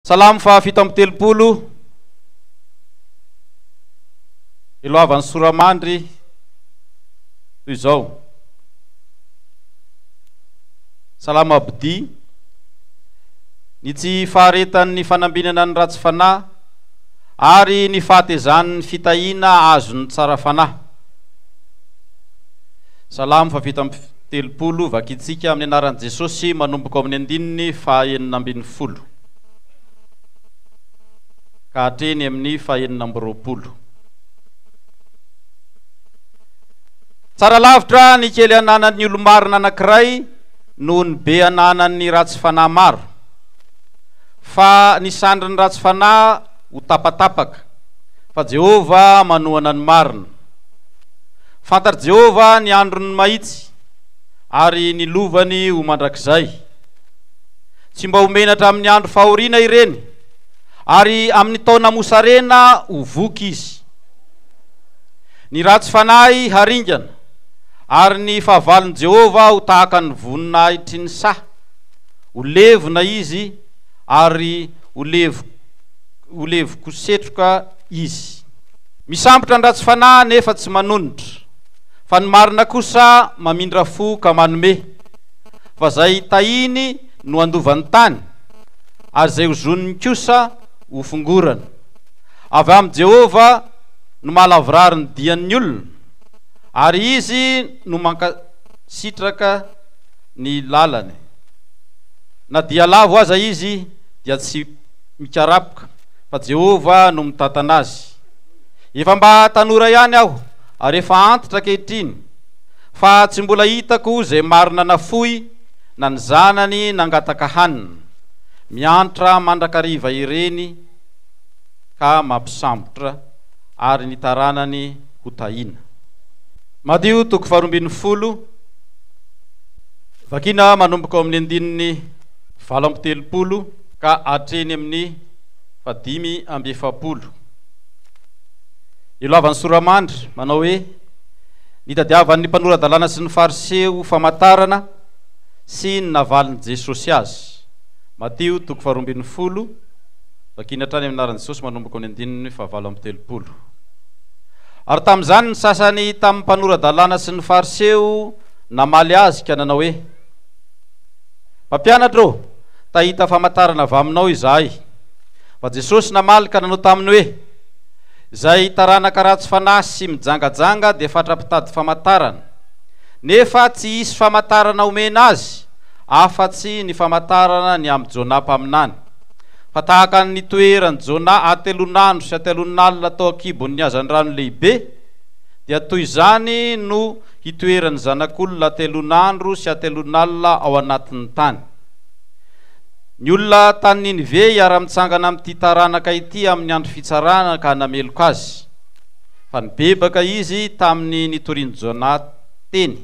Salamo faha fito amby telopolo Iloavan'ny soramandry toy izao Salamo abdi Ny tsy faharetan'ny fanambinana ny ratsy fanahy ary ny fahatezan'ny fitahiana azon'ny tsara fanahy Salamo faha fito amby Telopolo, Vakitsika amin'ny anaran'i Jesosy manomboka ao amin'ny andininy fahaenina ambin'ny folo ka hatreny amin'ny fahaenina amby roapolo. Tsara lavitra ny kely ananan'ny olo-marina anankiray noho ny be ananan'ny ratsy fanahy maro, fa ny sandrin'ny ratsy fanahy ho tapatapaka, fa Jehovah manohana ny marina. Fantatr'i Jehovah ny andron'ny mahitsy, ary ny lovany ho mandrakizay. Tsy mba ho menatra amin'ny andro fahoriana ireny, ary amin'ny taona mosarena ho voky izy. Ny ratsy fanahy haringana, ary ny fahavalon'i Jehovah ho tahaka ny voninahitry ny saha, ho levona izy, ary ho levo-kosetroka izy. Misambotra an-dratsy fanahy nefa tsy manonitra, fa ny marina kosa mamindra fo ka manome, fa izay tahiny no andovan'ny tany, ary izay ozoniny kosa ho fongorana. Avy amin'i Jehovah no mahalavorary ny dian'ny olona, ary izy no mankasitraka ny lalany. Na dia lavo aza izy, dia tsy mikarapoka. fa Jehovah no mitantana azy. Efa mba tanora ihany aho, ary efa antitra ankehitriny, fa tsy mbola hitako izay marina nafoy na ny zanany nangataka hanina. Miantra mandrakariva ireny ka mampisambotra ary ny taranany ho tahiana. Matio toko faharoa ambin'ny folo, vakina manomboka ao amin'ny andininy valo amby telopolo ka hatreny amin'ny. fa dimy amby efapolo. Ilalavan'ny Soramandry manao hoe, Nitadiavan'ny mpanora-dalàna sy ny Fariseo famantarana sy ny navalin'i Jesosy azy. Matio toko faharoa ambin'ny folo, Vakiny hatrany amin'ny anaran'i Jesosy manomboka amin'ny andininy fahavalo amby telopolo. Ary tamin'izany ny sasany tamin'ny mpanora-dalàna sy ny Fariseo namaly azy ka nanao hoe, Mpampianatra ô, tahita famantarana avy aminao izahay. Fa Jesosy namaly ka nanao taminy hoe, Izay taranaka ratsy fanahy sy mijangajanga dia fatra-pitady famantarana. Nefa tsy hisy famantarana homena azy afa-tsy ny famantarana ny amin'i Jonah mpaminany. Fa tahaka ny nitoeran'i Jonah atelonandro sy atelonalina tao an-kibon'ny hazandrano lehibe, dia toy izany no hitoeran'ny zanak'olona atelon'andro sy atelon'alina ao anatin'ny tany. Ny olona tany Ninive hiara-mitsangana amin'ity taranaka ity amin'ny andro fitsarana ka hanameloka azy, fa nibebaka izy tamin'ny nitorian'i Jona teny.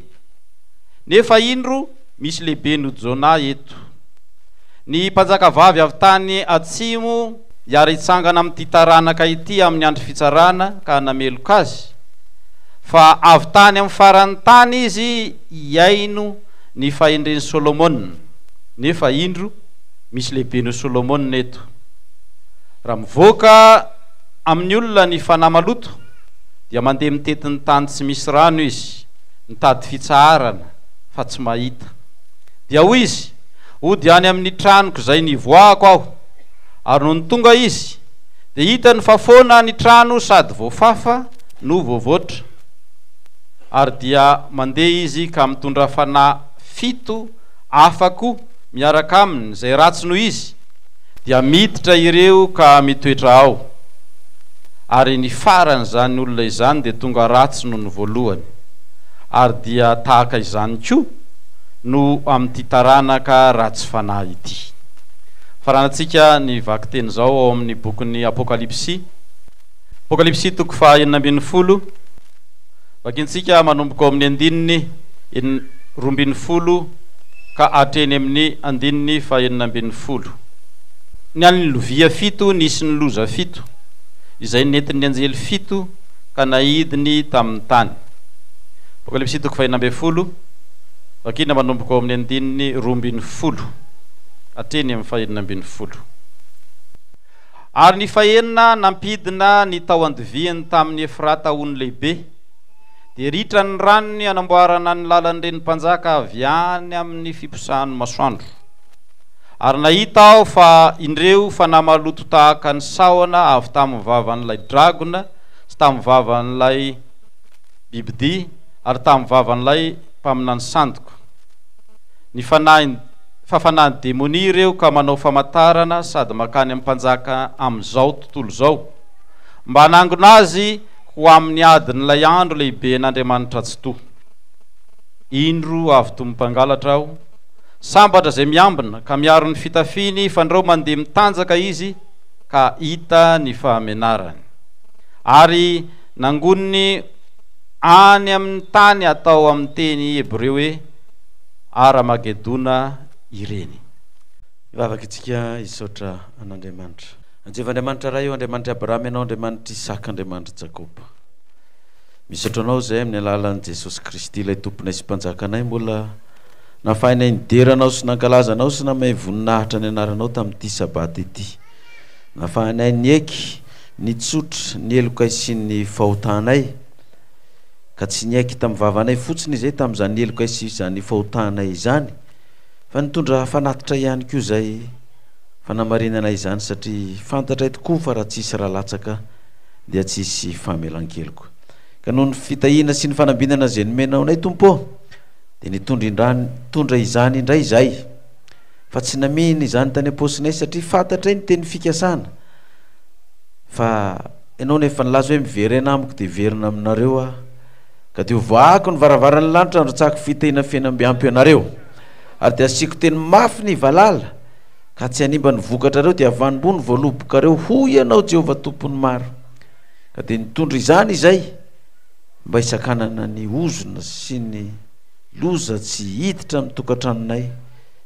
Nefa indro, Misy lehibe noho Jonah eto. Ny mpanjakavavy avy tany atsimo hiara hitsangana amin'ity taranaka ity amin'ny andro fitsarana ka hanameloka azy, fa avy tany amin'ny faran'ny tany izy hihaino ny fahendren'i Solomona. Nefa indro, misy lehibe noho Solomona eto. Raha mivoaka amin'ny olona ny fanahy maloto, dia mandeha mitety ny tany tsy misy rano izy. Nitady fitsaharana fa tsy mahita. Dia hoy izy, Hody any amin'ny tranoko izay nivoahako aho. Ary nony tonga izy, dia hitany fa foana ny trano sady voafafa no voavoatra. Ary dia mandeha izy ka mitondra fanahy fito hafa koa miaraka aminy izay ratsy noho izy. dia miditra ireo ka mitoetra ao, ary ny faran' izany olona izany dia tonga ratsy noho ny voalohany, ary dia tahaka izany koa no amin' ity taranaka ratsy fanahy ity. Faranantsika ny vakiteny izao ao amin' ny Bokin' ny Apôkalipsy. Apokalypsy toko faha enina ambin'ny folo, Vakintsika manomboka ao amin'ny andininy en roa ambin'ny folo ka hatreny amin'ny andininy faha enina ambin'ny folo. Ny an'ny lovia fito nisy ny loza fito, izay nentin'ny anjely fito ka naidiny tamin'ny tany. Apokalypsy toko faha enina ambin'ny folo, Vakina manomboka ao amin'ny andininy roa ambin'ny folo hatreny amin'ny faha enina ambin'ny folo. Ary ny fahenina nampidina ny tao andoviany tamin'i Efrata ho ny lehibe, dia ritra ny ranony hanamboarana ny lalan'ny renim-panjaka avy any amin'ny fiposahan'ny masoandro. Ary nahita aho fa indreo fanahy maloto tahaka ny sahona avy tamin'ny vavan'ilay dragona sy tamin'ny vavan'ilay bibidia ary tamin'ny vavan'ilay mpaminany sandoka, Ny fanahiny, fa fanahin'ny demonia ireo ka manao famantarana sady mankany amin'ny mpanjaka amin'izao tontolo izao, mba hanangona azy ho amin'ny adin'ilay andro lehiben'Andriamanitra Tsitoha. Indro avy toy ny mpangalatra aho, sambatra izay miambina, ka miaro ny fitafiny, fandrao mandeha mitanjaka izy, ka hita ny fahamenarany. Ary nangoniny any amin'ny tany atao amin'ny teny hebreo hoe. Ara-magedona ireny. Hivavaka isika hisaotra an'Andriamanitra. Jehovah Andriamanitra Ray ô, Andriamanitr'i Abrahama Ianao, Andriamanitr'i Isaka, Andriamanitr'i Jakoba. Misaotra Anao izay amin'ny alalan'i Jesosy Kristy, ilay Tomponay sy Mpanjakanay, mbola nahafahanay nidera Anao sy nankalaza Anao sy namay voninahitra ny Anaranao tamin'ity Sabata ity. Nahafahanay nieky, nitsotra, ny helokay sy ny fahotanay. ka tsy niaiky tamin'ny vavanay fotsiny izay tamin'izany helokay sy izany fahotanay izany fa nitondra fanatitra ihany koa izay fanamarinana izany satria fantatray tokoa fa raha tsisy raha latsaka dia tsisy famelan-keloka ka noho ny fitahiana sy ny fanambinana izay nomenao anay tompo dia nitondra indrany tondra izany indray izay fa tsy namihina izany tany am-posinay satria fantatray ny teny fikasana fa Ianao no efa nilaza hoe miverena amiko dia hiverina aminareo aho, ka dia hovaako ny varavaran'ny lanitra handrotsahako fitahiana feno mby ampy anareo, ary dia hasiako teny mafy ny valala, ka tsy hanimba ny vokatrareo, dia havanimbo ny voalobokareo, hoy Ianao, Jehovah Tompon'ny maro. Ka dia nitondra izany izay, mba hisakanana ny ozona sy ny loza tsy hiditra amin'ny tokantranonay,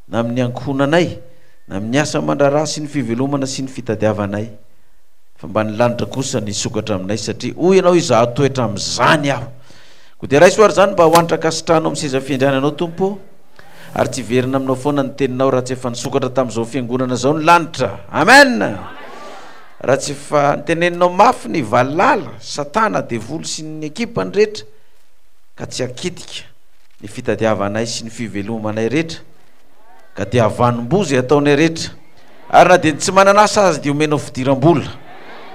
na amin'ny ankohonanay, na amin'ny asa aman-draharaha sy ny fivelomana sy ny fitadiavanay. Fa mba ny lanitra kosa nisokatra aminay satria hoy ianao izaho hatoetra amin'izany aho. Koa dia raiso ary izany mba ho antra an-kasitrahana ao amin'ny seza fiandriananao Tompo ô. Ary tsy hiverina aminao foana ny teninao raha tsy efa nisokatra tamin'izao fiangonana izao ny lanitra. Amen! Raha tsy efa niteneninao mafy ny valala, satana, devoly sy ny ekipany rehetra ka tsy hakitika ny fitadiavanay sy ny fivelomanay rehetra ka dia havanom-boa izay ataonay rehetra. Ary na dia ny tsy manana asa aza dia omenao fidiram-bola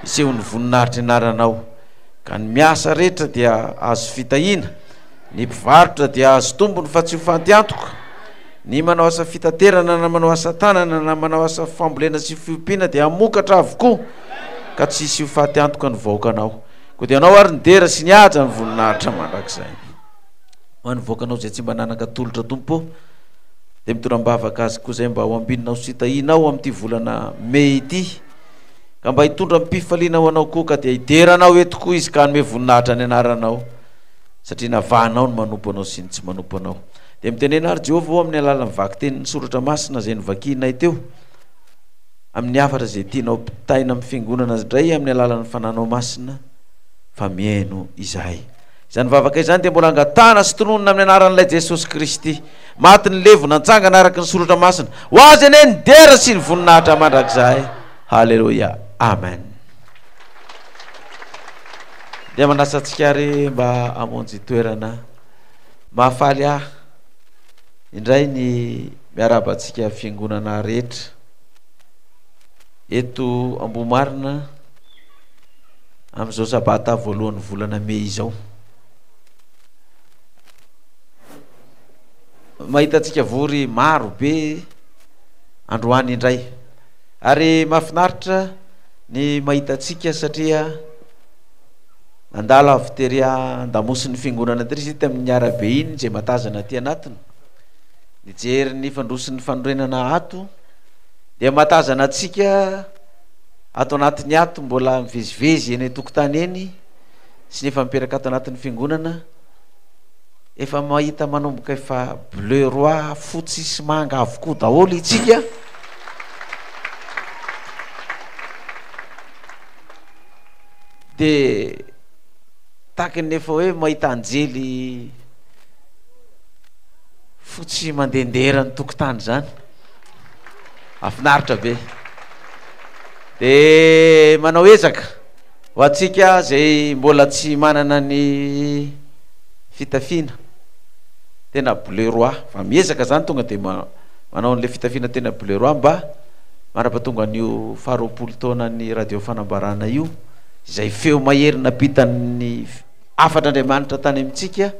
hiseho ny voninahitry ny anaranao. Ka ny miasa rehetra dia azo fitahiana, ny mpivarotra dia azo tombony fa tsy ho fantiantoka. Ny manao asa fitaterana na manao asa tanana na manao asa fambolena sy fiompiana dia hamokatra avokoa ka tsy hisy ho fatiantoka ny vahoakanao. Koa dia anao ary ny dera sy ny haja ny voninahitra mandrakizay. ho an'ny vahoakanao izay tsy mba nanan-katolotra Tompo ô dia mitondra am-bavaka azy koa izay mba ho ambinina sy tahianao amin'ity volana mey ity ka mba hitondra am-pifaliana ho anao koa ka dia hidera anao eto koa izy ka hanome voninahitra ny anaranao satria navahanao ny manompo anao sy ny tsy manompo anao dia mitenena ary Jehovah amin'ny alalan'ny vakiten'ny soratra masina izay novakianay teo amin'ny hafatra izay tianao pitaina amin'ny fiangonana indray amin'ny alalan'ny fananao masina fa mihaino izahay Izany vavaka izany dia mbola angatahana sy tononina amin'ny anaran'Ilay Jesosy Kristy, maty nilevo nantsangana araka ny Soratra Masina. Ho Azy anie ny dera sy ny voninahitra mandrakizay. Haleloia. Amen. Dia manasa antsika ary mba hamonjy toerana. Mahafaly ahy indray ny miarahaba antsika fiangonana rehetra. Eto Ambohimarina, amin'izao sabata voalohan'ny volana mey izao. Mahitantsika vory maro be androany indray. Ary mahafinaritra ny mahitantsika satria nandalo avy tery an-damosin'ny fiangonana tery izy tamin'ny arabe iny izay matazana aty anatiny. Nijery ny fandroso ny fanorenana ato. dia mahatazana antsika ato anatiny ato mbola mivezivezy eny an-tokotany eny sy ny efa mipetraka ato anatin'ny fiangonana efa mahita manomboka efa bleu roi fotsy sy manga avokoa daholo itsika dia taky ny efa hoe mahita anjely fotsy mandehandehera ny tokotany izany Afinaritra be. De manao ezaka ho antsika zay mbola tsy manana ny fitafiana tena bleu roi fa miezaka zany tonga de manao anle fitafiana tena bleu roi mba manapatonga an'io faharoapolo taonan'ny radio fanambarana io izay feo mahery napitan'ny Hafan'Andriamanitra tany amintsika,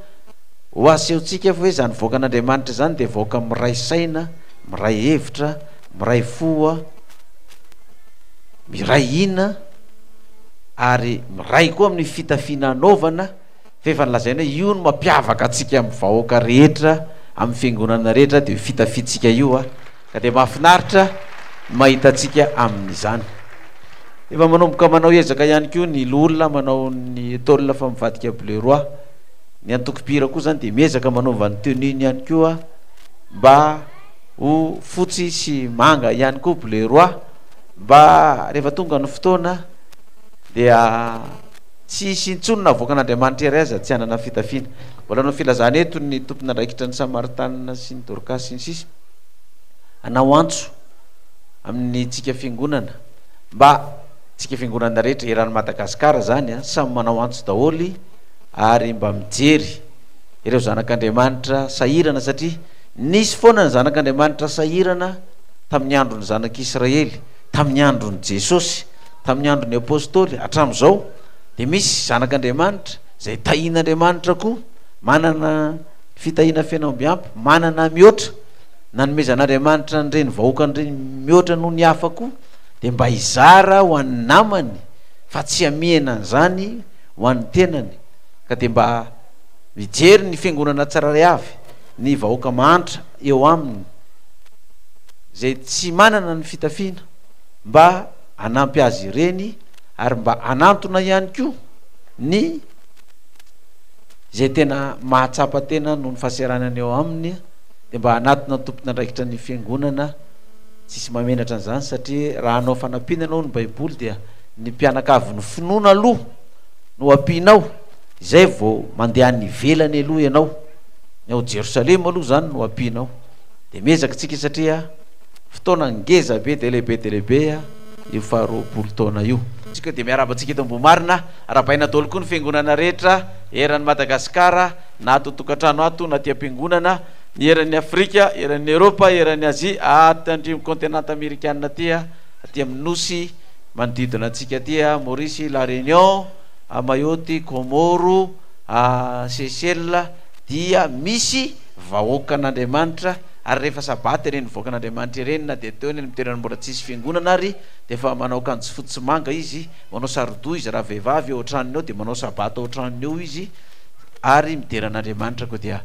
ho asehontsika fa hoe izany vahoakan'Andriamanitra izany dia vahoaka miray saina, miray hevitra, miray fo, miray hina ary miray koa amin'ny fitafiana anaovana fa efa nolazaina hoe io no mampiavaka antsika amin'ny vahoaka rehetra, amin'ny fiangonana rehetra dia io fitafiantsika io. Ka dia mahafinaritra ny mahita antsika amin'izany. Efa manomboka manao ezaka ihany koa ny Loholona manao ny tôle fa mivadika bleu roi. Ny antokom-pihira koa izany dia miezaka manova ny tenue-ny ihany koa mba ho fotsy sy manga ihany koa bleu roi mba rehefa tonga ny fotoana dia tsy hisy intsony na avoakan'Andriamanitra iray aza tsy hanana fitafiana. Mbola ny filazana eto ny tompon'andraikitra ny Samaritanina sy ny Dorcas sy ny sisa. anao antso amin'ny tsika fiangonana mba tsika fiangonana rehetra eran'ny Madagasikara zany a samy manao antso daholo ary mba mijery ireo zanak'Andriamanitra sahirana satria nisy foana ny zanak'Andriamanitra sahirana tamin'ny andron'ny zanak'Israely tamin'ny andron'i Jesosy tamin'ny andron'ny apostoly hatramin'izao dia misy zanak'Andriamanitra izay tahin'Andriamanitra koa manana Fitahiana feno ambiampy, manana mihoatra, nanomezan'Andriamanitra an'ireny vahoakany ireny mihoatra noho ny hafa koa, dia mba hizara ho an'ny namany, fa tsy hamihena an'izany ho an'ny tenany, ka dia mba mijery ny fiangonana tsirairay avy, ny vahoaka mahantra eo aminy, izay tsy manana ny fitafiana, mba hanampy azy ireny, ary mba hanantona ihany koa ny. Izay tena mahatsapa tena noho ny fahaseranany eo aminy dia mba hanatona ny tompon'andraikitra ny fiangonana, tsy hisy mahamenatra an'izany satria raha hanao fanampiana ianao hoy ny baiboly dia ny mpianakavy ny finoana aloha no ampianao izay vao mandeha any ivelany aloha ianao, ny ao Jerosalema aloha izany no ampianao. Dia miezaka isika satria fotoana ngeza be dia lehibe dia lehibe io faharoapolo taona io. Isika dia miarahaba antsika eto Ambohimarina. Arabaina daholo koa ny fiangonana rehetra eran'i Madagasikara, na ato an-tokantrano ato, na aty am-piangonana, ny eran'ny Afrika, eran'ny Eropa, eran'ny Azia, aty andrian'ny kaontenanta amerikana aty, aty amin'ny nosy manodidina antsika aty, a Maurice, La Réunion, a Mayotte, Kômôro, a Seychelles, dia misy vahoakan'Andriamanitra, ary rehefa sabata ireny vahoakan'Andriamanitra ireny, na dia teo anefa ny toerana mbola tsisy fiangonana ary, dia efa manao akanjo fotsy sy manga izy, manao saro-doha izy raha vehivavy eo an-tranony ao dia manao sabata ao an-tranony eo izy ary midera an'Andriamanitra koa dia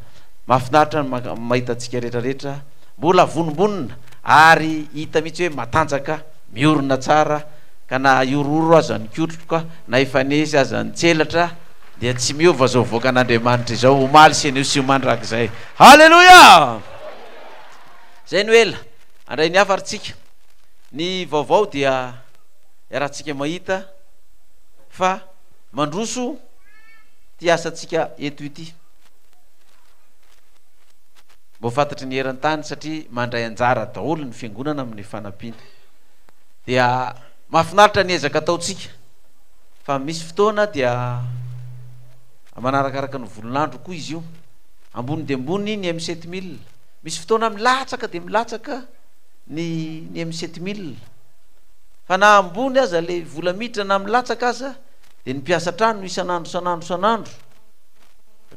mahafinaritra ny mahita antsika rehetrarehetra mbola avonombonona ary hita mihitsy hoe matanjaka miorina tsara ka na ahororo aza ny kotroka na efa nesy aza ny tselatra dia tsy miova izao voaka an'Andriamanitra izao omaly sy anio sy mandrakizay haleloia zay no ela andray ny hafa ary tsika ny vaovao dia iarahantsika mahita fa mandroso ity asantsika eto ity. Mba ho fantatry ny eran-tany satria mandray anjara daholo ny fiangonana amin'ny fanampiana. Dia mahafinaritra ny ezaka ataontsika fa misy fotoana dia manarakaraka ny volon'andro koa izy io. Ambony dia ambony ny M7000. Misy fotoana milatsaka dia milatsaka. ny ny amin'ny sept mille fa na ambony aza ilay vola miditra na milatsaka aza dia ny mpiasa an-trano isan'andro isan'andro isan'andro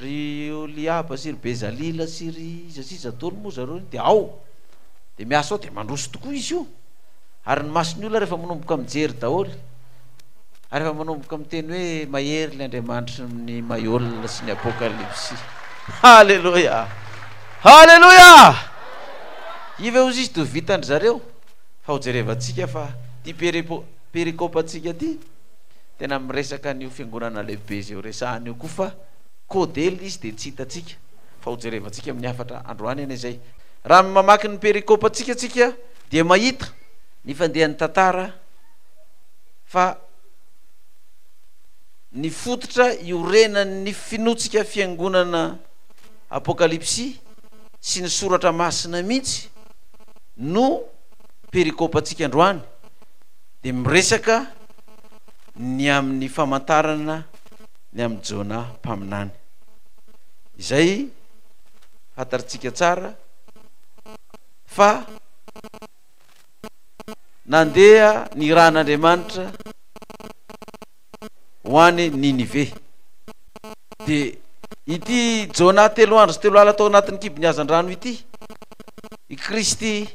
ry Oliaba sy ry Bezalila sy ry iza sy iza daholo moa zareo iny dia ao dia miasa ao dia mandroso tokoa izy io ary ny mason'ny olona rehefa manomboka mijery daholo ary efa manomboka miteny hoe mahery ilay Andriamanitry ny Maiola sy ny Apokalipsy Haleloia Haleloia! Iva eo zisy do vitan-dry zareo fa ho jerevantsika fa ty perepo perikopantsika ty tena miresaka an'io fiangonana lehibe zay ho resahana io koa fa code l'izy de tsy hitantsika fa ho jerevantsika amin'ny hafatra androany anie zay. Raha mamaky ny perikopantsika tsika dia mahita ny fandehan'ny tantara fa ny fototra iorenan'ny finoantsika fiangonana Apokalypsy sy ny Soratra Masina mihitsy no perikopantsika androany dia miresaka ny amin'ny famantarana ny amin'i Jona mpaminany. Izay fantarintsika tsara fa nandeha ny rà an'Andriamanitra. ho any Ninive. Dia ity Jona telo andro sy telo alina tao anatin'ny kibon'ny hazandrano ity, i Kristy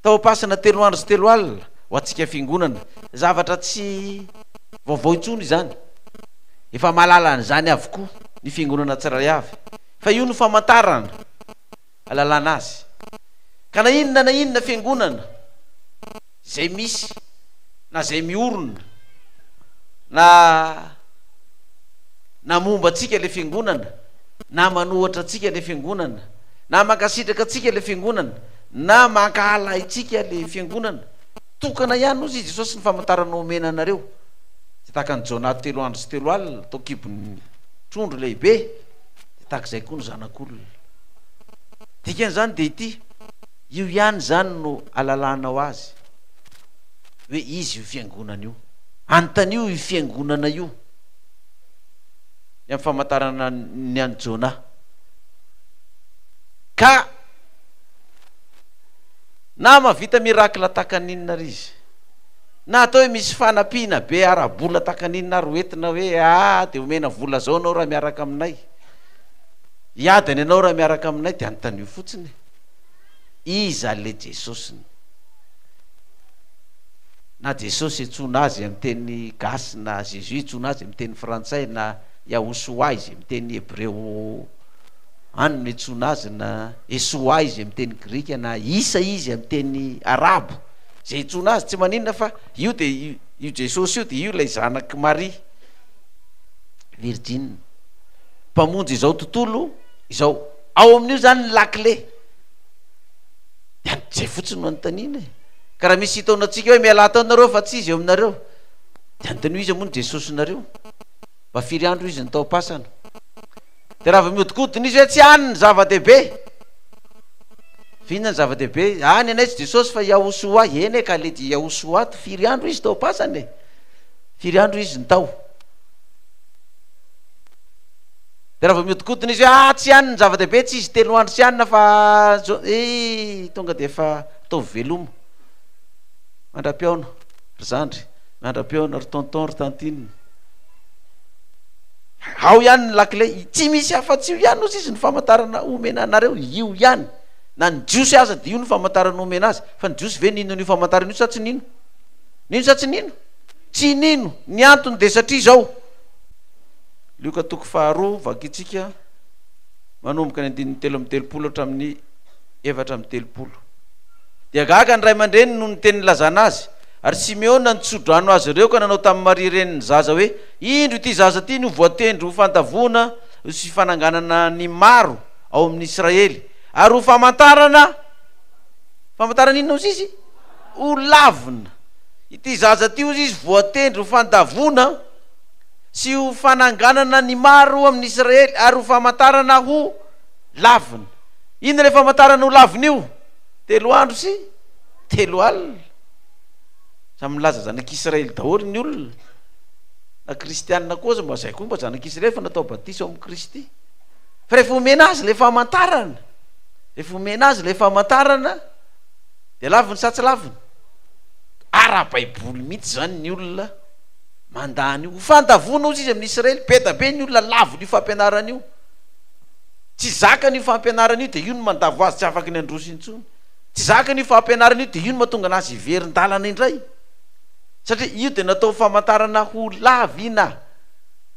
tao am-pasana telo andro sy telo alina ho antsika fiangonana. Zavatra tsy vaovao intsony izany. Efa mahalala an'izany avokoa ny fiangonana tsirairay avy. Fa io no famantarana. alalana azy. Ka na inona na inona fiangonana izay misy na izay miorina na na momba antsika ilay fiangonana na manohatra antsika ilay fiangonana na mankasitraka antsika ilay fiangonana na mankahala ahintsika ilay fiangonana, tokana ihany hozy i Jesosy ny famantarana omena anareo. Dia tahaka an'i Jona telo andro sy telo alina tao an-kibon'ny trondro lehibe dia tahaka izay koa ny Zanak'olona. Dikan'izany dia ity, io ihany izany no alalanao azy hoe izy io fiangonana io. Anontanio io fiangonana io ny amin'ny famantarana ny an'i Jonah. Ka na mahavita miracle tahaka ny inona ary izy, na atao hoe misy fanampiana be ara-bola tahaka ny inona ary hoentina hoe aa dia omena vola izao ianao raha miaraka aminay, Hiady any ianao raha miaraka aminay dia anontanio fotsiny e. Iza le Jesosiny? Na Jesosy iantsoana azy amin'ny teny gasy na Jésus iantsoana azy amin'ny teny frantsay na Yahoshua izy amin'ny teny hebreo any no iantsoana azy na Esoa izy amin'ny teny grika na Isa izy amin'ny teny arabo zay iantsoana azy tsy maninona fa io de io Jesosy io de io ilay zanak'i Maria virjina. mpamonjy izao tontolo izao. Ao amin'io zany ny lakile. Dia zay fotsiny no anontaniana e. Ka raha misy hitaona antsika hoe mialà tao nareo fa tsy izy eo aminareo. Dia anontaniana hoe iza moa ny Jesosinareo? Mba firy andro izy no tao am-pasana? Dia raha vao mihodinkodina izy hoe tsy any ny zava-dehibe. Fa inona ny zava-dehibe? Ah ny anay tsy Jesosy fa Yahushua. Eny e ka le dia Yahushua to firy andro izy tao am-pasana e? Firy andro izy no tao? Dia raha vao mihodinkodina izy hoe ah tsy any ny zava-dehibe tsy izy telo andro tsy any fa eh tonga dia efa ataovy veloma. Mandra-pihaona ry zandry, mandra-pihaona ry tonton ry tantine. Ao ihany ny lakile, tsy misy afa-tsy io ihany hozy izy ny famantarana omena anareo, io ihany. Na ny jiosy aza dia io ny famantarana omena azy. Fa ny jiosy ve nino an'io famantarana io sa tsy nino? Nino sa tsy nino? Tsy nino. Ny antony dia satria izao. Lioka toko faharoa, vakintsika manomboka ny andininy telo amby telopolo hatramin'ny efatra amby telopolo. Dia gaga ny ray aman-dreniny noho ny teny nilazana azy. Ary Simeona nitso-drano azy ireo ka nanao tamin'i Maria renin'ny zaza hoe, Indro ity zaza ity no voatendry ho fandavoana sy fananganana ny maro ao amin'ny Israely, ary ho famantarana, famantarana inona hozy izy? Ho lavina. Ity zaza ity hozy izy voatendry ho fandavoana. sy ho fananganana ny maro amin' Israely ary ho famantarana ho lavina. Inona ilay famantarana ho lavina io? Telo andro sy telo alina. Samy milaza zanak' Israely daholo ny olona na kristiana koa aza mba zay koa mba zanak' Israely fa natao batisa ao amin' Kristy. Fa rehefa omena azy ilay famantarana, rehefa omena azy ilay famantarana dia laviny sa tsy laviny? Ara-baiboly mihitsy izany ny olona. mandà an'io. Ho fandavoana ozy izy amin'ny Israely. Be da be ny olona lavon' io fampianarana io. Tsy zakany io fampianarana io, dia io no mandavo azy tsy afaka ny handroso intsony. Tsy zakany io fampianarana io, dia io no mahatonga anazy hiverin-dalana indray. Satria io dia natao ho famantarana ho lav ina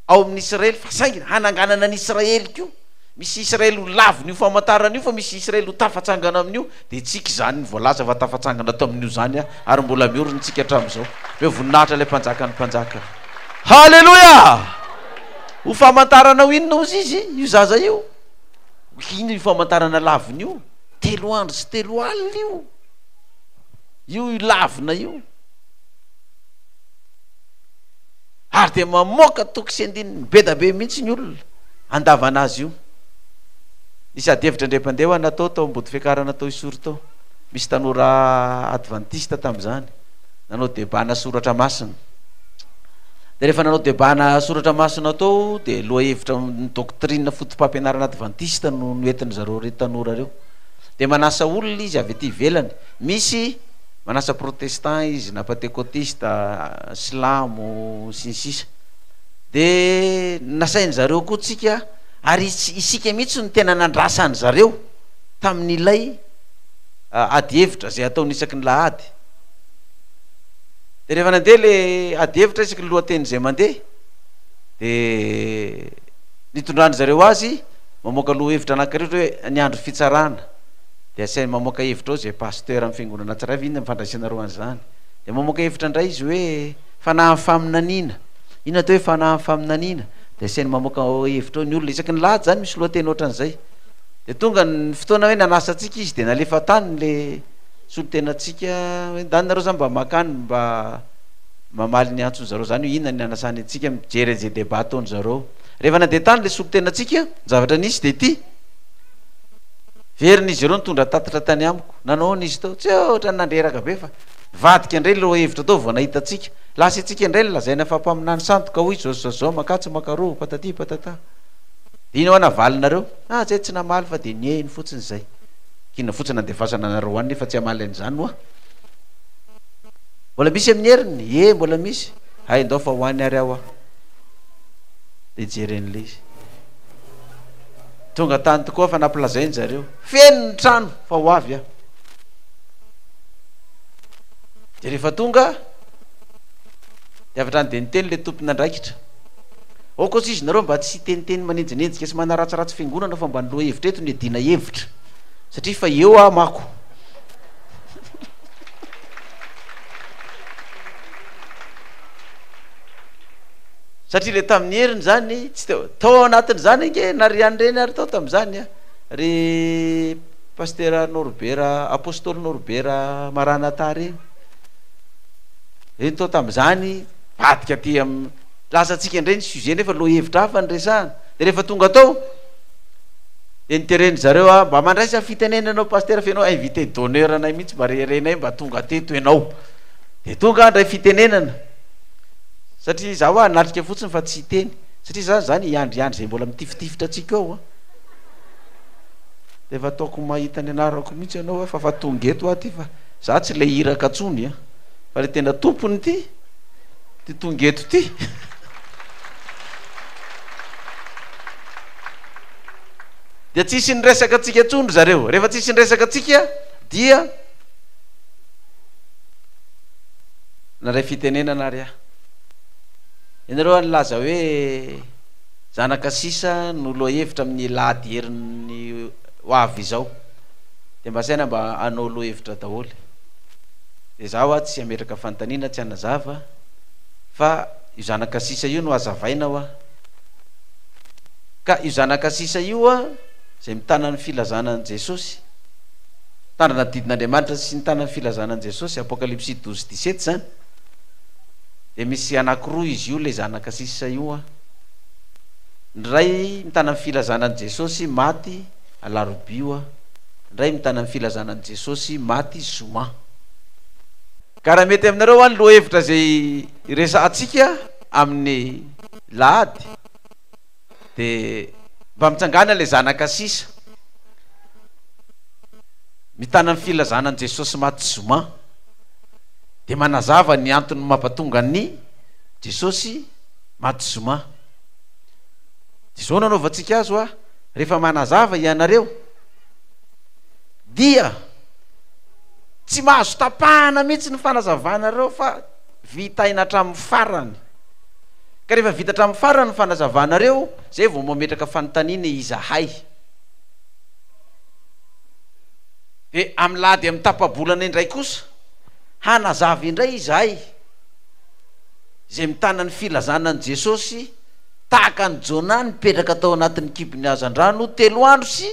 ao amin'ny Israely, fa saingy hananganana an'i Israely koa. Misy Israely ho lavin'io famantarana io fa misy Israely ho tafatsangana amin'io, dia antsika izany no voalaza fa tafatsangana tamin'io izany ary mbola miorina antsika hatramin'izao. Omeo voninahitra ilay Mpanjakan'ny mpanjaka. Haleloia! Ho famantarana ho inona hozy izy io zaza io? Inona io famantarana lavina io? Telo andro sy telo alina io. Io io lavina io. ary dia mamoaka toky sy andininy bedabe mihitsy ny olona andavanazy io. Nisy ady hevitra indray mpandeha ho ana tao tao Ambotofiakarana tao Isoro tao. Misy tanora advantista tamin'izany nanao debat ana soratra masina. Dia rehefa nanao debat ana soratra masina tao dia lohahevitra ny doctrine fotopampianarana advantista no noentin'izareo tanora ireo. Dia manasa olona izy avy aty ivelany. Misy Manasa protestant izy na patekotista, silamo sy ny sisa de nasainy zareo koa tsika ary isika mihitsy no tena nandrasany zareo tamin'ilay ady hevitra zay ataony isaky ny lahady de rehefa nandeha le ady hevitra isaky ny lohateny zay mandeha de nitondrany zareo azy mamoaka lohahevitra anakiritra hoe ny andro fitsarana Dia asainy mamoaka hevitra ao izay pasteur amin'ny fiangonana tsirairay avy inona ny fandraisana roa an'izany? Dia mamoaka hevitra indray izy hoe fanahin'ny faminaniana. Inona atao hoe fanahin'ny faminaniana? Dia asainy mamoaka hevitra ao ny olona. Isaky ny lahady izany misy lohateny ohatran'izay. Dia tonga ny fotoana hoe nanasa antsika izy dia nalefa tany ilay solontenantsika hoe andaniny izany mba maka any mba mamaly ny antsony zareo izany hoe inona ny nanasany antsika mijery an'izay débat ataony zareo. Rehefa nandeha tany ilay solontenantsika ny zavatra nisy dia ity. Verina izy ireo nitondra tatitra tany amiko. Nanahoana izy tao? Tsy ohatran'ny nandreraka be fa nivadika indray ny lohahevitra tao vao nahita antsika. Lasa itsika indray no lazaina fa mpaminany sandoka hoy izao sy izao sy izao, makatsy makaroa, patati patata. Dia inona navalinareo? Ah, tsy hay tsy namaly fa dia nihaino fotsiny izay. Kina fotsiny handefasana anareo any nefa tsy hamaly an'izany hoa. Mbola misy amin'ny heriny? Ie, mbola misy. Hay ndao fa ho any ary aho hoa. Dia jeren'ilay izy. Tonga tany tokoa fa nampilazain zareo feno ny trano fa ho avy aho. Dia rehefa tonga dia avy hatrany dia niteny ilay tompon'andraikitra. Aokosa izy nareo mba tsy hiteniteny manenjinenjika sy manaratsiratsy fiangonana fa mba ny lohahevitra eto no iadiana hevitra satria fa eo aho mako. Satria le tamin'ny heriny zany tsy teo, tao ao anatin'izany ange narian'ireny ary tao tamin'izany aho ry Pasitera Norbera, Apostoly Norbera Maranatha reny, reny tao tamin'izany nivadika aty amin'ny, lasa antsika indray ny sujet nefa lohahevitra hafa no resahana, de rehefa tonga tao de nitereny zareo aho mba mandraisa fitenenana ianao Pasitera fa ianao invité d'honneur anay mihintsy mba rerenay mba tonga teto ianao, de tonga aho handray fitenenana. Satria za hoa hanatrika fotsiny fa tsy hiteny satria za zany hiandriandry zay mbola mitifitifitra antsika ao a! D'efa ataoko mahita ny anarako mihitsy ianao a fa fa tonga eto aho ty fa za tsy le iraka tsony a! Fa le tena tompony ty ty tonga eto ty! Dia tsisy niresaka antsika tsony ry zareo, rehefa tsisy niresaka antsika dia. Nandray fitenenana ary aho. Ianareo ary nilaza hoe zanaka sisa no lohahevitra amin'ny lahady herin'ny hoavy izao. Dia mba asaina mba hanao lohahevitra daholo. Dia izaho hoa tsy hametraka fanontaniana, tsy hanazava, fa io zanaka sisa io no hazavaina hoa. Ka io zanaka sisa io hoa izay mitana ny filazana an'i Jesosy. Mitandrina didin' Andriamanitra sy ny tanan'ny filazana an'i Jesosy, Apokalypsy douze dix sept, izany, dia misy anankiroa izy io, ilay zanaka sisa io an. Ny iray mitana ny filazana an'i Jesosy, maty, alarobia io an. Ny iray mitana ny filazana an'i Jesosy, maty, zoma. Ka raha mety aminareo an, ny lohahevitra izay iresahantsika amin'ny lahady, de mba mitsangàna ilay zanaka sisa mitàna ny filazàna an'i Jesosy maty zoma de manazava ny antony mampatonga an'i Jesosy maty zoma de zao no anaovantsika azy hoa rehefa manazava ianareo dia tsy mahazo tapahana mihitsy ny fanazavanareo fa vitaina hatramin'ny farany. Ka rehefa vita hatramin'ny farany ny fanazavanareo, izay vao mametraka fanontaniana izahay. Dia amin'ny lahady amin'ny tapa-bolana indray kosa, hanazava indray izahay, izay mitana ny filazana an'i Jesosy, tahaka an'i Jonah nipetraka tao anatin'ny kibon'ny hazandrano telo andro sy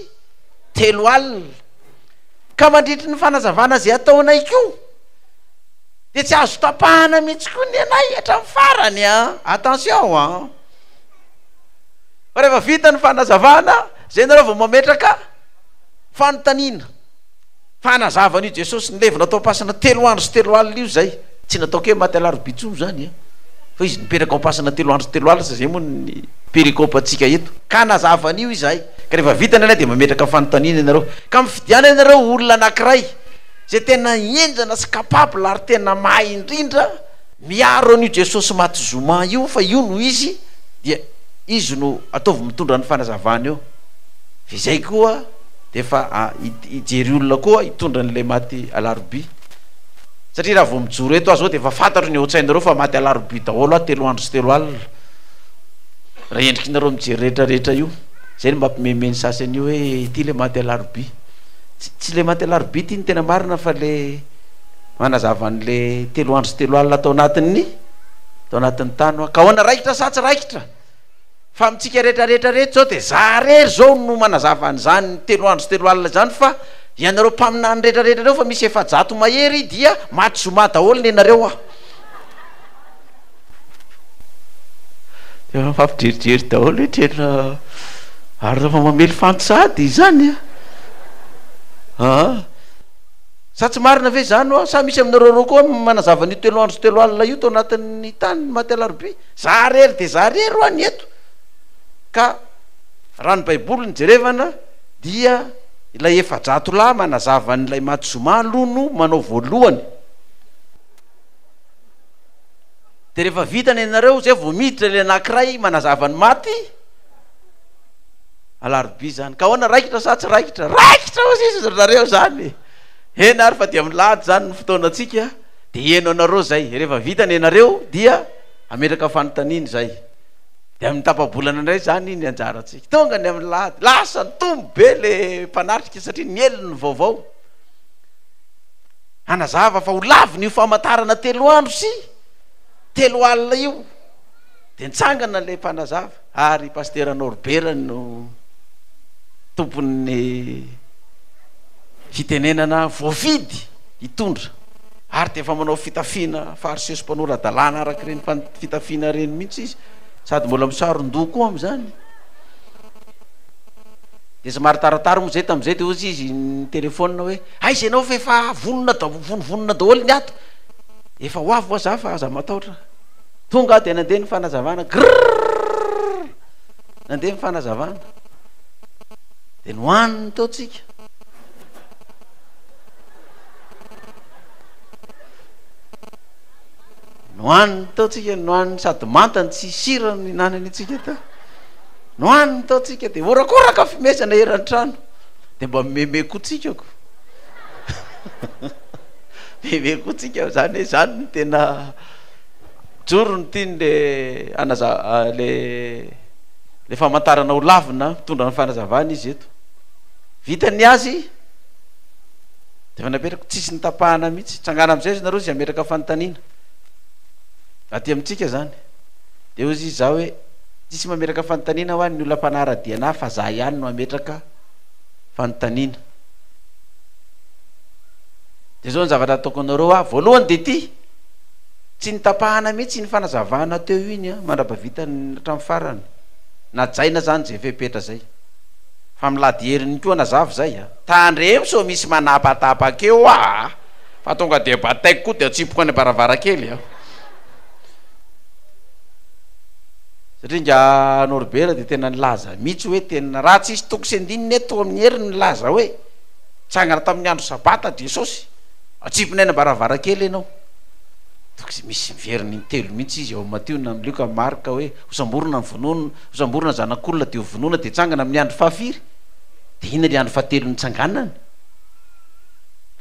telo alina. Ka mandritry ny fanazavana izay ataonay koa, Dia tsy azo tapahana mihitsy koa ny anay hatramin'ny farany an! Attention an! Fa rehefa vita ny fanazavana, izay nareo vao mametraka fanontaniana. Fa hanazava an'io Jesosy nilevina tao am-pasana telo andro sy telo alina io izay, tsy nataoko hoe maty alarobia intsony izany an! Fa Izy nipetraka ao am-pasana telo andro sy telo alina, izay moa ny perikopantsika eto. Ka hanazava an'io izahay. Ka rehefa vita ny anay dia mametraka fanontaniana ianareo. Ka mifidiana ianareo olona anankiray. Zay tena enjana sy capable ary tena mahay indrindra miaro an'io Jesosy maty zoma io fa io no izy dia izy no ataovy mitondra ny fanazavana eo fa izay koa dia efa hijery olona koa hitondra an'ilay maty alarobia satria raha vao mijoro eto aho zao dia efa fantatro ny ao an-tsainareo fa maty alarobia daholo aho telo andro sy telo alina raha endriky nareo mijery rehetra rehetra io zay no mampimeme ny sasany io hoe ity le maty alarobia Tsy tsy le maty alarobia ity no tena marina fa le manazava an'le telo andro sy telo alina tao anatin'ny tao anatin'ny tany hoa ka ahoana raikitra sa tsy raikitra fa amintsika rehetra rehetra rehetra zao de za rery zao no manazava an'izany telo andro sy telo alina izany fa ianareo mpaminany rehetra rehetra reo fa misy efajato mahery dia maty zoma daholo nenareo hoa Efa mifampijerijery daholo hoe tena ary rehefa mamely fanty sahady izany a! aa sa tsy marina ve izany hoa? Sa misy aminareo roa koa manazava an'io telo andro sy telo alina io tao anatin'ny tany ny maty alarobia? Za rery dia za rery hoa ny eto ka raha ny baiboly no jerevana dia ilay efa-jato lahy manazava an'ilay maty zoma aloha no manao voalohany. de rehefa vita ny anareo zay vao miditra ilay anankiray manazava ny maty alarobia zany ka ahoana raikitra sa tsy raikitra raikitra ozy izy ry zareo zany hena ary fa dia milady zany ny fotoanantsika de heno anareo zay rehefa vita ny anareo dia ametraka fanontaniana zay de amin'ny tapabolana indray zany ny anjarantsika tonga ny amin'ny lady lasa ny tombo be le mpanatrika satria ny helony vaovao hanazava fa ho lavina io famantarana telo andro sy telo alina io dia nitsangana ilay mpanazava ary pastera Norbert no tompon'ny fitenenana voafidy hitondra ary dia efa manao fitafiana fariseso mpanora-dalàna araka ireny fitafiana ireny mihitsy izy sady mbola misaron-doha koa amin'izany dia somary taratara moa izay tamin'izay dia hozy izy ny telefona hoe Aiza ianao fa efa vonona daholo vonivonona daholo ny ato efa ho avy moa za fa aza mataotra tonga aho dia nandeha ny fanazavana grrrr nandeha ny fanazavana dia nohaniny teo tsika nohaniny teo tsika nohaniny sady manta ny tsy sira ny hinanany tsika teo nohaniny teo tsika dia horakoraka fimesana eran'ny trano dia mba mimeme koa tsika ko mimeme koa tsika zany hoe zany no tena joro ny tiany le anaza ah, le le famantarana ho lavina mitondra ny fanazavana izy eto vita ny azy de efa napetrako tsisy ny tapahana mihitsy tsangana amizay izy nareo zay ametraka fanontaniana aty amintsika zany Dia hoy izy zah hoe, tsisy mametraka fanontaniana hoa ny olona mpanara-dia anah fa zah ihany no hametraka fanontaniana. Dia zao ny zavatra ataoko anareo hoa, voalohany dia ity, tsy notapahana mihitsy iny fanazavana teo iny an, mandra-bavita hatramin'ny farany. Najaina zany zay fepetra zay. Fa milady heriny koa nazava zay an. Tandremo sao misy manapatapaka eo aa, fa tonga dia bataiko koa dia atsipiko any am-baravarankely an. Satria nga Norbert dia tena nilaza mihitsy hoe tena raha tsisy toko sy andininy eto amin'ny heriny nilaza hoe nitsangana tamin'ny andro sabata Jesosy, atsipina eny am-baravarankely ianao. Toko izay misy veriny intelo mihitsy izy ao amin'ny Matio na amin'ny Lioka na Marka hoe hosamborina ny vonoana, hosamborina ny zanak'olona dia hovonoina dia hitsangana amin'ny andro fahafiry. Dia inona ilay andro fahatelo nitsanganany?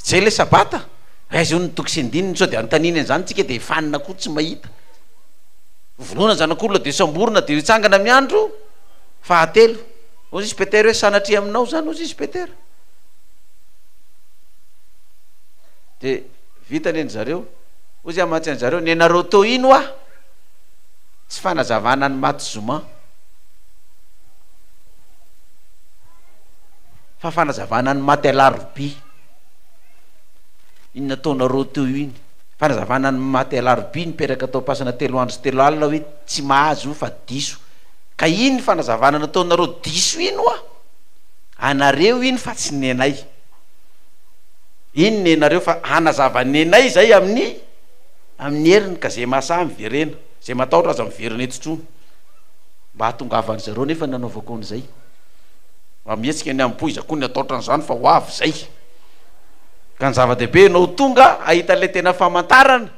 Izay ilay sabata. Aiza hono ny toko sy andininy sao dia anontaniany an'izany tsika dia fanina koa tsy mahita. Vonoina ny zanak'olona dia samborina dia hitsangana amin'ny andro fahatelo. Hoy izy Petera hoe sanatria aminao izany hoy izy Petera. Dia vita anie ny zareo. Hoy izy amantsy an'zareo nenareo teo ino hoa? Tsy fanazavana ny maty zoma. Fa fanazavana ny maty alarobia. iny nataonareo teo iny. Fanazavana ny maty alarobia nipetraka tao ampasana telo andro sy telo alina hoe tsy mahazo io fa diso ka iny fanazavana nataonareo diso iny hoa anareo iny fa tsy nenay iny nenareo fa hanazava nenay zay amin'ny amin'ny heriny ka zay mahasaha miverena zay matahotra aza miverina eto tron mba hahatongavan zareo nefa nanaovako an'izay mba mihetsika ny ambohiza koa ny ataotra an'izany fa ho avy zay Ka ny zava-dehibe ianao tonga ahita ilay tena famantarana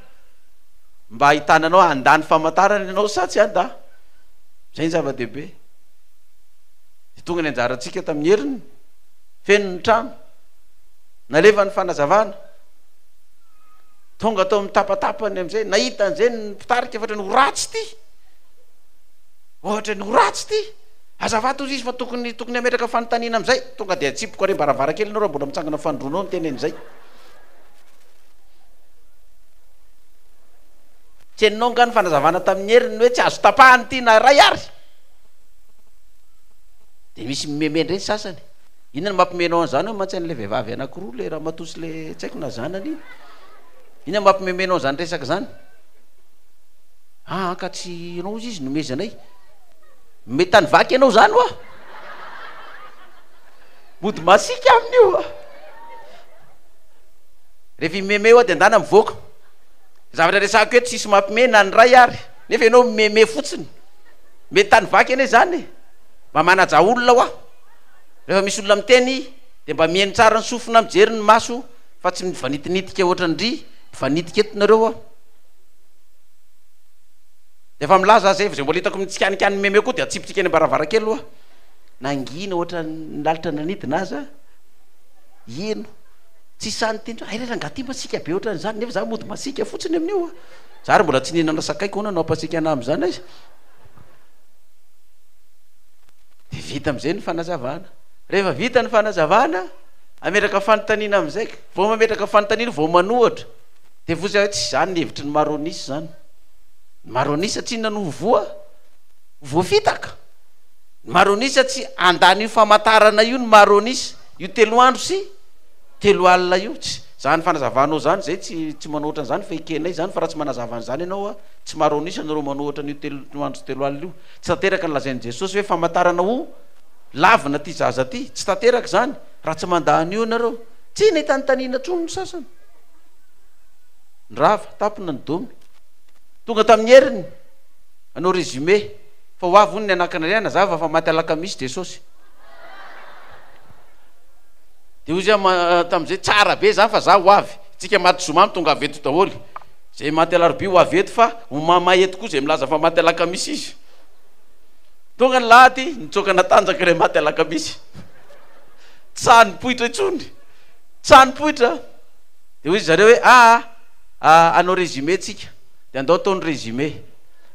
mba ahitana anao handà ny famantarana ianao sa tsy handà. Izay ny zava-dehibe. Dia tonga ny anjarantsika tamin'ny heriny, feno ny trano, nalefa ny fanazavana. Tonga tao amin'ny tapatapany amin'izay, nahita an'izay ny mpitarika ohatra ny ho ratsy ity. Ohatra ny ho ratsy ity. Azafady hozy izy fa tokony tokony hametraka fanontaniana amizay tonga dia atsipiko ary ambaravarakely enao raha mbola mitsangana fandroanao ny tena enizay. Tsy henonao angaha ny fanazavana tamin'i Hery ny hoe tsy azo tapahany ity na iray ary? Dia misy mimeme indray ny sasany. Inona no mampime anao an'izany hoe mantsy an'ilay vehivavy anankiroa ilay ramatoa sy ilay tsy haiko na zanany iny? Inona no mampimeme anao an'izany resaka izany? Aa ka tsy ianao hozy izy nomezanay. Mety any vaky ianao zany hoa. Mody masiaka aminy io hoa. Rehefa i Meme hoa de ndana mivoaka. Zavatra resahiko eto tsisy mampime na ny ray ary. Nefa ianao mimeme fotsiny. Mety any vaky anie zany e. Mba manaja olona hoa. Rehefa misy olona miteny de mba miheno tsara ny sofina mijery ny maso fa tsy mifanitinitika ohatran'ny ndry mifanitika eto nareo hoa. Efa milaza aza efa izay mbola hitako mitsikanikany mimehy mimehy koa dia atsipitsika any ambaravarankely aloha nangina ohatran'ny lalitra nanidina aza heno tsisy sahy niteny hoe airay rangahy ity masiaka be ohatran'izany nefa za mody masiaka fotsiny amin'io a za ary mbola tsy nihinana sakay ka ahoana no hampasiaka anah amin'izany aiza dia vita amin'izay ny fanazavana rehefa vita ny fanazavana ametraka fanontaniana amin'izay ka vao mametraka fanontaniana vao manohatra Devozy ahy tsy izany ny hevitry ny Maronis izany. Ny Maronisa tsy inona no ho voa? Ho voafitaka. Ny Maronisa tsy handany io famantarana io ny Maronisa. Io telo andro sy telo alina io. Tsy izany fanazavanao izany izay tsy tsy manoatra an'izany fa ekenay izany fa raha tsy manazava an'izany ianao a, tsy Maronisa nareo manoatra an'io telo andro sy telo alina io. Tsy tanteraka ny lazain'i Jesosy hoe famantarana ho lavina ity zaza ity. Tsy tanteraka izany raha tsy mandà an'io ianareo. Tsy nitantaniana intsony ny sasany. Ny rava, tampina ny domy. Tonga tamin'ny heriny hanao résumé fa ho avy hono ny anakinareo hanazava fa maty alakamisy Jesosy. Dia hoy izy tamin'izay, tsara be izany fa izaho ho avy. Isika maty zoma no tongava eto daholo. Izay maty alarobia ho avy eto fa homamay eto koa izay milaza fa maty alakamisy izy. Tonga ny lahady, nitsoaka natanjaka ilay maty alakamisy. Tsy sahy nipoitra intsony. Tsanopoitra a! Dia hoy ry zareo hoe, aa, aa, hanao résumé tsika, dia andao atao ny résumé.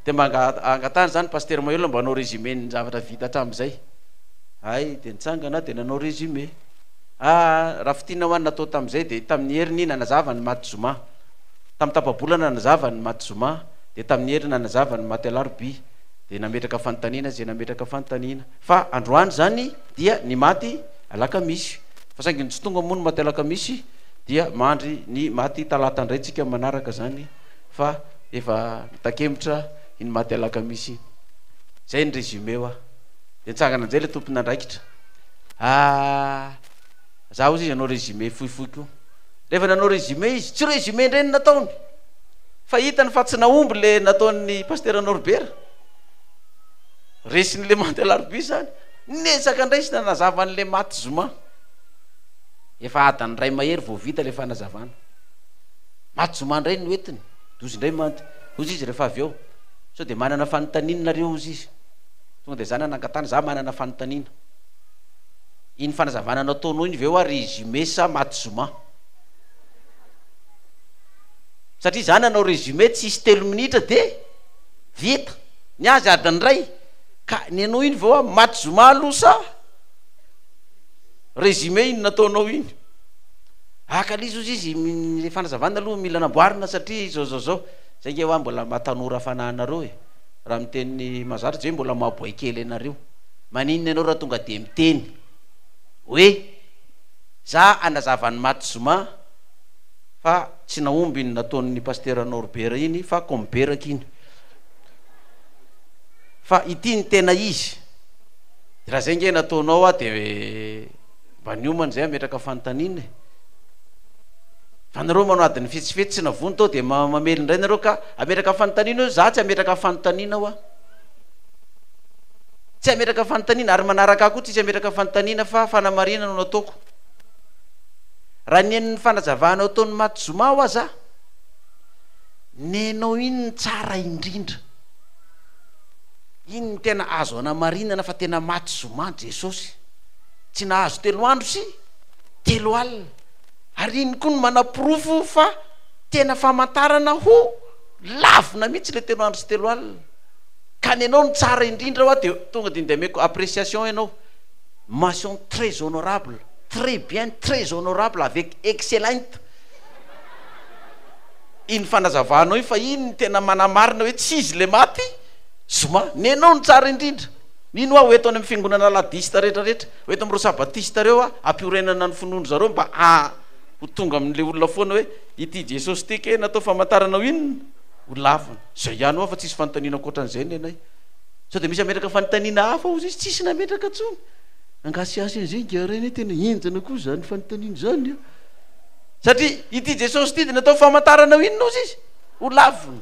Dia mba angatahana izany ny Pasitera Mahelola mba hanao résumé ny zavatra vita hatramin'izay. Hay, dia nitsangana aho dia nanao résumé. Aa, raha fintinina ho an' ny natao tamin'izay dia tamin'ny heriny nanazava ny maty zoma. Tamin'ny tapa-bolana nanazava ny maty zoma, dia tamin'ny heriny nanazava ny maty alarobia. Dia nametraka fanontaniana izay nametraka fanontaniana. Fa androany izany dia ny maty. alakamisy fa saingy ny tsy tonga moa ny maty alakamisy dia mandry ny maty talata indray tsika manaraka zany fa efa mitakemitra iny maty alakamisy iny zay ny résumé hoa de nitsangana njay le tompon'andraikitra ah za ozy izy anao résumé fohifohy ko rehefa nanao résumé izy tsy résumé indray ny nataony fa hitany fa tsy nahomby le nataon'ny pastera norbert resin'le manty alarobia zany Niezaka indray izy nanazava an'ilay maty zoma. Efa adiny iray mahery vao vita ilay fanazavana. Maty zoma indray ny hoentiny. Dozy indray mantsy. Hozy izy rehefa avy eo. Sao dia manana fanontaniana nareo hozy izy. Tonga dia za nanangan-tany, za manana fanontaniana. Iny fanazavana nataonao iny ve hoa ry Jumé sa maty zoma? Satria za nanao résumé tsisy telo minitra dia vita. Ny azy adiny iray. Ka nenoy iny ve hoa maty zoma aloha sa résumé iny nataonao iny? Aka lzy ozy izy ny fanazavana aloha mila namboarina satria zao zao zao, zay nge hoa mbola maha tanora fanahy anareo e, raha miteny mazatra zay mbola maha boay kely anareo, maninona ianao raha tonga dia miteny hoe za hanazava an'i maty zoma fa tsy nahomby iny nataon'ny pasitera Norbert iny fa komberaky iny. fa ity ny tena izy de raha zay nge nataonao aho de mba niomana zay ametraka fanontaniana e fa nareo manao adin'ny fetsifetsy tsy navony tao de mamely indray nareo ka ametraka fanontaniana eo za tsy ametraka fanontaniana hoa tsy ametraka fanontaniana ary manaraka ahy koa tsisy ametraka fanontaniana fa fanamarihana no nataoko raha nen'ny fanazavana ataon'ny maty zoma hoa za nenao iny ny tsara indrindra Iny no tena azo anamarinana fa tena maty zoma Jesosy. Tsy nahazo telo andro sy telo alina. Ary iny koa no manaporofo fa tena famantarana ho lavina mihitsy ilay telo andro sy telo alina. Ka ny anao no tsara indrindra hoa dia tonga dia ndehameko appréciation ianao. Mention très honorable, très bien, très honorable avec excellent. Iny fanazavanao iny fa iny no tena manamarina hoe tsy izy ilay maty zoma. Nenao no tsara indrindra. Mino aho ho eto any amin'ny fiangonana Aladista rehetra rehetra, ho eto amin'ireo Sabatista ireo aho hampiorenana ny finoan-dry zareo mba haha ho tonga amin'ilay olona foana hoe ity Jesosy ity kay natao famantarana ho inona? Ho lavina. Izay ihany ho aho fa tsisy fanontaniana ankoatran'izay nenay. Sao dia misy hametraka fanontaniana hafa hozy izy? Tsisy nametraka intsony. Angasihasy an'izay ingahy Ray anie tena henjana koa izany fanontaniana izany a! Satria ity Jesosy ity dia natao famantarana ho inona ozy izy? Ho lavina.